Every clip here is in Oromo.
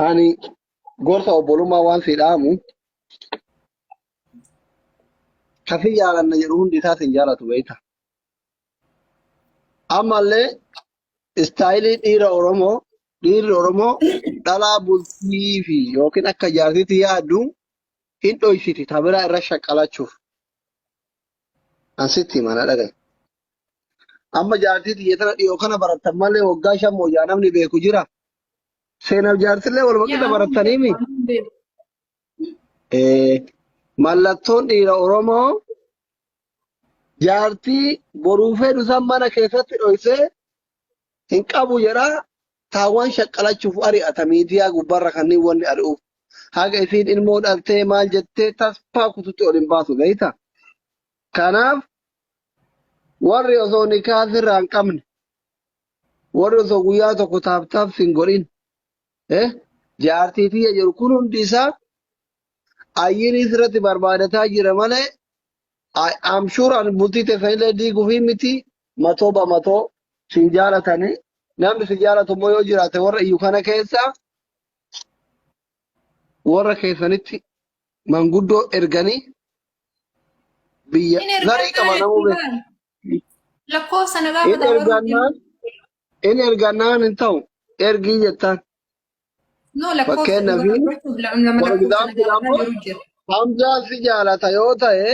Ani gorsa obbolummaa waan si dhaamu kasi jaalanna jedhu hundi isaa sin jaalatu beekta. Ammallee istaayilii dhiira Oromoo dhiirri Oromoo dhalaa bultii fi yookiin akka jaartiitti yaaddu hin dhoysiti ta biraa irra shaqqalachuuf. An sitti hima na dhaga'i. Amma jaartii tiyya tana dhiyoo kana barattan malee waggaa shan mooyyaa namni beeku jira. Seenaaf jaartillee waluma qixa barattanii mi? Eh, Mallattoon dhiira Oromoo jaartii boruu fedhu san mana keessatti dhoysee hin qabu jedha. Taawwan shaqqalachuuf ari'ata miidiyaa gubbarra kanneen wanni ari'uuf. Haga isiin ilmoo dhaltee maal jettee tasfaa kututti ol hin baasu beeyta. Kanaaf warri osoo nikaa sirraa hin qabne warri osoo guyyaa tokko taaptaaf sin godhin eh, jaartii tiyya jedhu kun hundi isaa ayyinii sirratti barbaadataa jira malee I- I'm sure ani bultii teessan illee diiguufii miti matoo ba matoo sin jaalatanii namni sin jaalatu immoo yoo jiraate warra iyyu kana keessaa warra keessanitti manguddoo erganii biyya Hin ergan zarii qaba taane namuu beeku. baal. Lakkoofsa na In gaafata warra ergannaan in ergannaan hin ta'u ergii jettaan No lakkoofsa fakkeenna dhuga fi dubbachuuf lama lama for lakkoofsa na example gaafata amma jiru jira. Hamzaan si jaalata yoo ta'e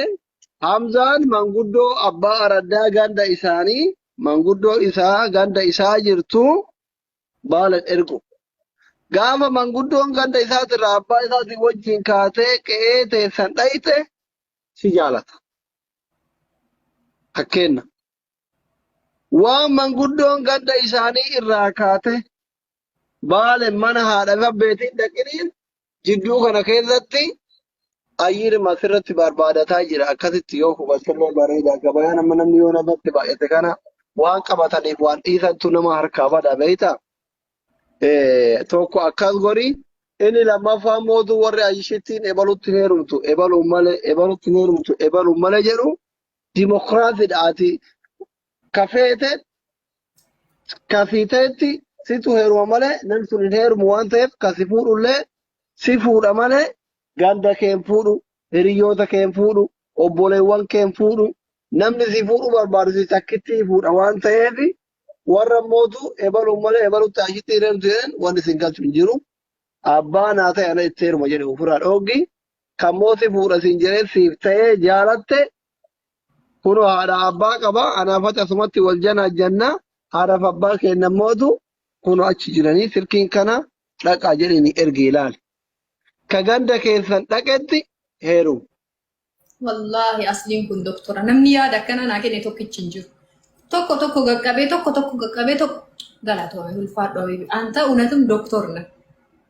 Hamzaan manguddoo abbaa araddaa ganda isaanii manguddoo isaa ganda isaa jirtu baala ergu. Gaafa manguddoon ganda isaatirraa abbaa isaatiin wajjin kaatee qe'ee teessan dhayxe si jaalata. Fakkeenna. Waan manguddoon ganda isaanii irraa kaate baale mana haadha gabbeetiin dhaqiniin Jidduu kana keessatti ayyiirma asirratti barbaadataa jira. Akkasitti yoo hubattillee bareeda. Gabayaan amma namni yoo namatti baay'ate kana waan qabataniif waan dhiisantu nama harkaa bada beektaa? Eh, tokko akkas godhi inni lammaffaa immoo utuu warri ayyishittiin ebalutti hin heerumtu ebaluun malee ebalutti hin heerumtu ebaluun malee jedhu dimokiraasiidha ati kafeete ka sii ta'etti situ heeruma malee namni sun hin heerumu waan ta'eef ka si fuudhullee si fuudha malee ganda kee hin fuudhu hiriyoota kee hin fuudhu obboleewwan kee hin fuudhu namni si fuudhu barbaadu si takkitti fuudha waan ta'eef warra mootu ebaluun malee ebalutti ashitti hin heerumtu jedhan wanni isin galchu hin jiru abbaa naa ta'e ana itti heeruma jedhe ofirraa dhooggi kan mooti fuudha siin jedhee siif ta'ee jaalatte Kunoo haadha abbaa qaba, anaaf ati asumatti wal janaajjanna, haadhaaf abbaa keenya mootu kunoo achi jiranii silkiin kana dhaqaa jedhini ergi ilaali. Ka ganda keessan dhaqetti heerumu. Wallaahi asliin kun doktora namni yaada akkana naa kenne tokkichi hin jiru. Tokko tokko qaqqabee tokko tokko qaqqabee tokko galatoomee ulfaadhu habibi. Anta unatum doktor na.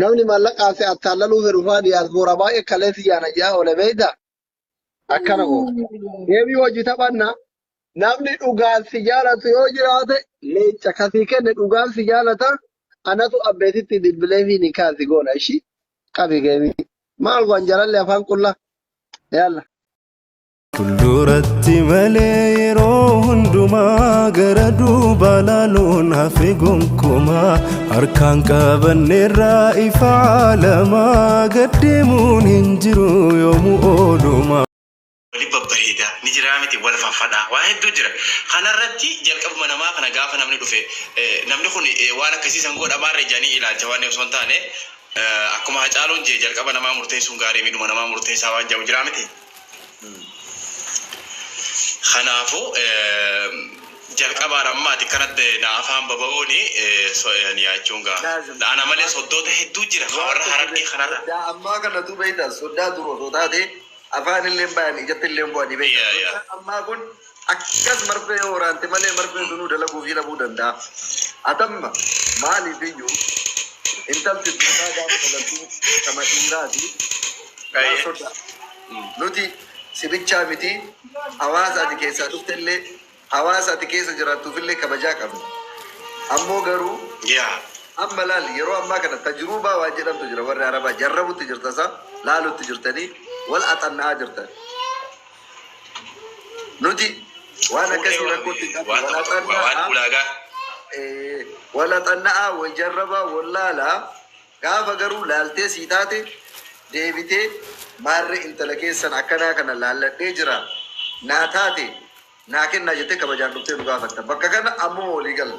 Namni maallaqaa si attaallaluu fedhu faa diyaasbooraa baay'ee kalee si yaana ji'aa oole beeyta. Akkana oo. Deebii hojii taphanna. Namni dhugaan si jaalatu yoo jiraate leenca kasii kenne dhugaan si jaalata. Anatu abbeetitti bilbilee fi nikaa si goona ishii qabi geemii. Maal waan jalalle afaan qullaa. Yaalla. Fuulduratti malee yeroo hundumaa gara duubaa laaluun hafe gonkumaa harkaan qabanneerraa ifa alamaa gad deemuun hin jiru yoomuu oolumaa. wali babbareeda ni jiraa miti wal faffadha waa hedduu jira kanarratti jalqabuma namaa kana gaafa namni dhufe eh, namni kun eh, waan akkasii san godha maarree jedhanii ilaalcha waan osoo hin taane eh, akkuma hacaaluun jee jalqaba namaa murteessuun gaarii midhuma namaa murteessaa waan jedhu jiraa miti Kanaafuu, jalqabaan amma ati akkanatti na afaan baba'uun so ean yaachuun gaa. Na ana malee soddoota hedduu jira ka warra Harargee kanarra. Soddaa ammaa kanatu beekta soddaa dur osoo taatee afaanilleen bayan ijattilleen bu'anii beekta. Soddaa ammaa kun. Akkas marfee yoo waraante malee marfeen sunuu dalaguufii dhabuu danda'a. Atamma maaliif iyyuu intalti durbaa gaafa dhalattu kama dhiiraati waan Ayyee. sodaa. Nuti si bichaa miti hawaasa ati keessaa dhufte illee hawaasa ati keessa jiraattuuf illee kabajaa qabna. Ammoo garuu Yaa. amma laal yeroo ammaa kana tajruubaa waan jedhamtu jira warri arabaa jarrabutti jirta isaa laalutti jirtanii wal axanna'aa jirtan. Nuti waan akkasii rakkootti hin qabnu. Walaxanna'aa, waljarrabaa, wallaalaa gaafa garuu laaltee sii taate deebitee maarree intala keessan akkanaa kana laalladhee jira naa taate naa kennaa jettee kabajaan dhuftee nu gaafatta. Bakka kana ammuma walii galla.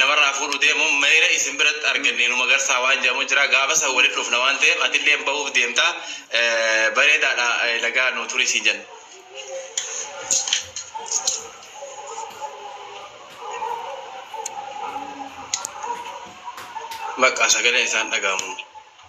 namarraa fuudhu deemuun mayra isin biratti arganne nu magarsaa waan jedhamu jira gaafa san walitti dhufna waan ta'eef atilleen bahuuf deemta bareedaadha nagaa nu turi siin jenna. Bakka sagaleen isaan dhaga'amu.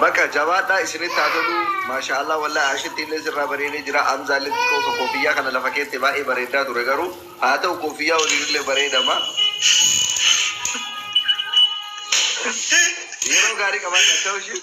Baqa jabaadhaa isinitti haa toluu Maashaa Allah wallahi Aashittii illee sirraa bareedee jiraa Hamzaa illee xiqqoo osoo koofiyyaa kana lafa keette baay'ee bareeddaa ture garuu haa ta'u koofiyyaa waliin illee bareedama Yeroo gaarii qabaadhaa chawushi.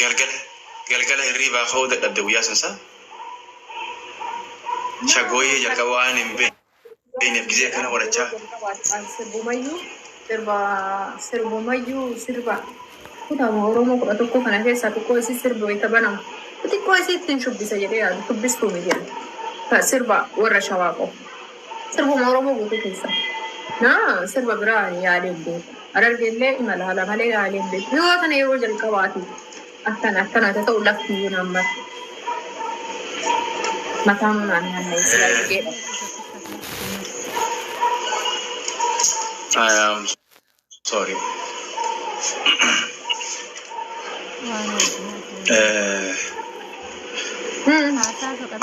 Galgala galgala hirriibaa ka'uu dadhabde guyyaa sun sa shagooyyee jalqaba waan hin beekneef gizee akkana qorachaa Jalqaba waaqaan sirbumayyuu sirba sirbumayyuu sirba kutaama Oromoo kudha tokko kana keessaa xiqqoo isii sirbi wayita banamu xiqqoo isii ittiin shubbisa jedhee yaadu shubbistuu miti ani. Ka sirba warra shawaa qofa. Sirbuma Oromoo guutuu keessa. Na sirba biraa ani yaadee hin beeku. Harargee illee imala haala malee yaadee hin beeku. Yoo tana yeroo jalqabaati akkana akkana haa ta'u lafti iyyuu naan mara. Mataa manaan naanna'e silaa jedheedha. Ayyaam. Sorry.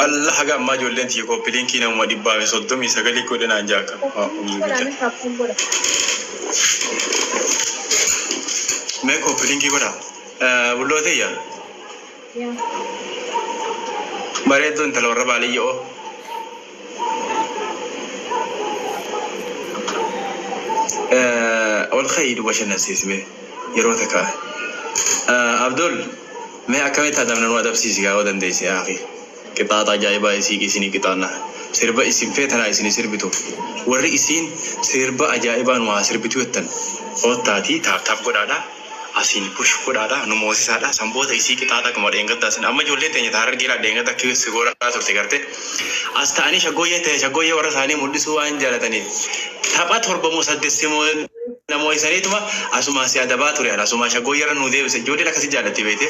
Allah haga ammaa ijoolleen tiyya kooppiliinkii namuma dhibbaa fi soddomii sagalii godhanaan jaaka. Mee kooppiliinkii godhaa. Bulloo tiyya. Bareedduu intala warra baadiyyaoo. Ol ka'ii nu bashannansiisi mee yeroo takka. Abdul mee akkamitti adabna nu adabsiisi gaa yoo dandeesse yaa akhi. Qixaaxa ajaa'ibaa isii isinii qixaanna. Sirba isin feetanaa isinii sirbitu. Warri isiin sirba ajaa'ibaa nu haa sirbitu jettan koottaatii taap taap godhaadhaa. Asiin push godhaadha nu moosisaadha san booda isii qixaaxa akkuma dheengaddaa san amma ijoolleen teenya ta harargee laa dheengadda akka si goolaa turte garte as ta'anii shaggooyyee ta'e shaggooyyee warra isaanii mul'isuu waan jaalataniif tapha torba moo saddeet si moo na moo'isaniituma asumaa si adabaa ture an asumaa shaggooyyee irra nu deebise ijoolleen akkasi jaallatti beekte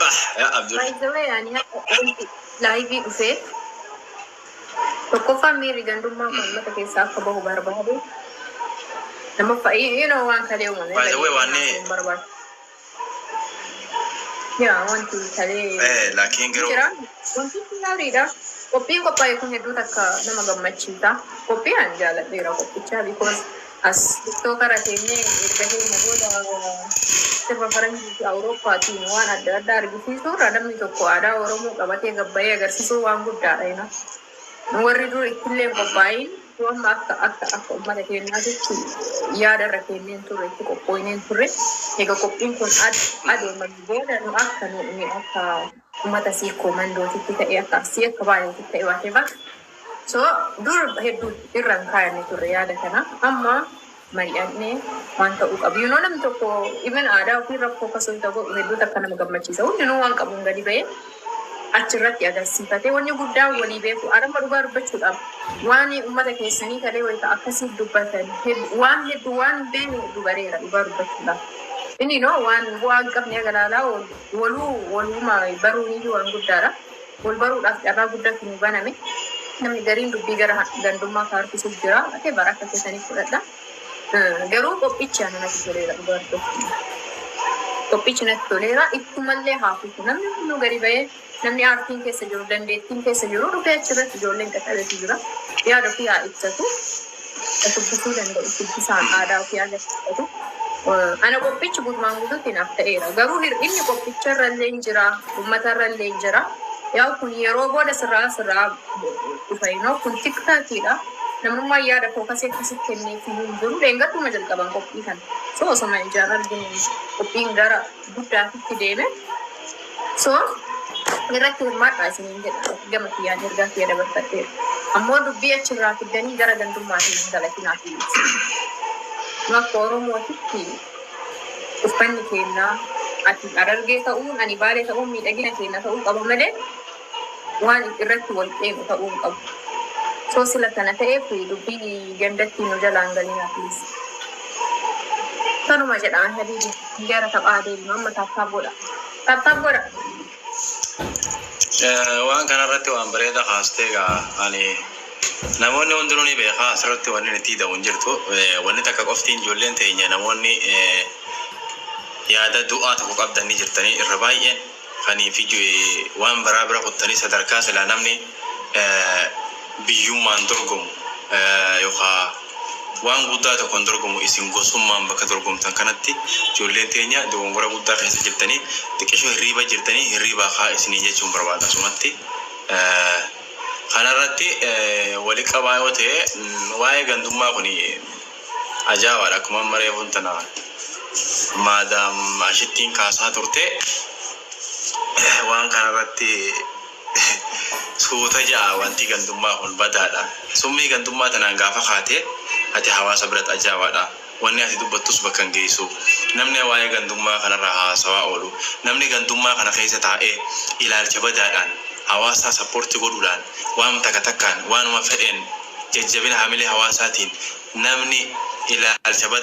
Bah, yaa Abdul. By the way, ani haqa wanti laayivii dhufee tokkoffaan miirri gandummaa kun uummata keessaa akka bahu barbaade. Lammaffaa, you know waan kalee uumame. By the way, waan ni- Hin barbaadu. Yaa wanti talee Eh, laakiin garuu- jira. Wanti kun gaariidha. Qophiin qophaa'e kun hedduu takka nama gammachiisa. Qophii ani jaaladheera qophichaa because as tiktookara teenyee erga keenya booda sirba faranjii fi awurooppaatiin waan adda addaa argisiisuu irra namni tokko aadaa Oromoo qabatee gabbayee agarsiisuu waan guddaadha. you know. Warri dur ittillee hin qophaayin, yoo amma akka akka akka ummata keenyaatitti yaada irra keennee hin turre, itti qophooynee hin turre. Eega qophiin kun ad adeemame booda nu akka nu nu akka ummata Sikkoo Mandootitti ta'e akka Arsii akka Baaleetitti ta'e whatever. So dur hedduu irra hin kaayanne turre yaada kana. Amma mari'anne waan ta'uu qabu you know namni tokko even aadaa ofii rakkoo akka soyita godhu hedduu takka nama gammachiisa hundinuu waan qabuun gadi ba'ee achirratti agarsiifate wanni guddaa walii beeku adamma dhugaa dubbachuudhaaf waan ummata keessanii talee wayita akkasii dubbatan hed- waan hedduu waan hin beekne hedduu bareera dhugaa dubbachuudhaaf inni noo waan bu'aa hin qabne agalaalaa waluu waluuma baruun iyyuu waan guddaadha. Wal baruudhaaf carraa guddatu nuu baname. Namni gariin dubbii gara gandummaa ka harkisuuf jira. Ate bara akka keessaniif fudhadha. Garuu qophichi ana natti toleera dhugaa dubbachuuf. Qophichi natti toleera. Ittumallee haa fufu. Namni hunduu gadi ba'ee namni aartiin keessa jiru, dandeettiin keessa jiru dhufee achirratti ijoolleen qaqqabeetu jira. Yaada ofii haa ibsatu. Ka shubbisuu danda'u shubbisaan aadaa ofii agarsiifatu. Ana qophichi guutumaan guutuutti naaf ta'eera. Garuu hir'inni qophicha irralleen jira, uummata irralleen jira. Yaa'u kun yeroo booda sirraa sirraa dhufa inoo kun tiktakiidha. Namummaan yaada fookasii akkasii kenneef iyyuu hin jiru. Dheengadduma jalqaban qophii kana. So osoma ijaan arginu qophiin gara guddaatitti deeme. So irratti hirmaadhaa isiniin jedha. Gama kiyyaan ergaa kiyya dabarfadheera. Ammoo dubbii achi irraa fiddanii gara gandummaatiin hin galatinaa please. Nu akka Oromootitti uffanni keenya ati Harargee ta'uun ani Baalee ta'uun miidhagina keenya ta'uu qaba malee Waan irratti wal qeeqnu ta'uu hin qabu. Osoo sila kana ta'eef dubbii gandattii nu jalaa hin galinaa please. Tanuma jedha an habiibi. Gara taphaa deemnu amma taaptaap godha. Taaptaap godha. Eh, waan kanarratti waan bareeda kaastee gaa ani namoonni hundinuu ni beekaa asirratti wanni itti hidhamu hin jirtu Eh, wanni takka qoftiin ijoolleen teenya namoonni eh, yaada du'aa tokko qabdan ni jirtanii irra baay'een Fanii fi joy waan baraa bira kuttanii sadarkaa silaa namni biyyummaan dorgomu yookaa waan guddaa tokkon dorgomu isin gosummaan bakka dorgomtan kanatti ijoolleen teenya dogongora guddaa keessa jirtanii xiqqisho hirriiba jirtanii hirriibaa ka'aa isiniin jechuun barbaada asumatti kanarratti wali qabaa yoo ta'e waa'ee gandummaa kuni Ajaa'ibaadha akkuma amma reefuun tana maadaam ashittiin kaasaa turte waan kana irratti suuta ja'a wanti gandummaa kun badaadha summii gandummaa tanaan gaafa kaate ati hawaasa biratti ajaa'ibaadha wanni ati dubbattus bakka hin geessu namni waa'ee gandummaa kanarraa haasawaa oolu namni gandummaa kana keessa taa'ee ilaalcha badaadhaan hawaasaa sappoorti godhuudhaan waanuma takka takkaan, waanuma fedheen, jajjabina hamilee hawaasaatiin namni ilaalcha badaa.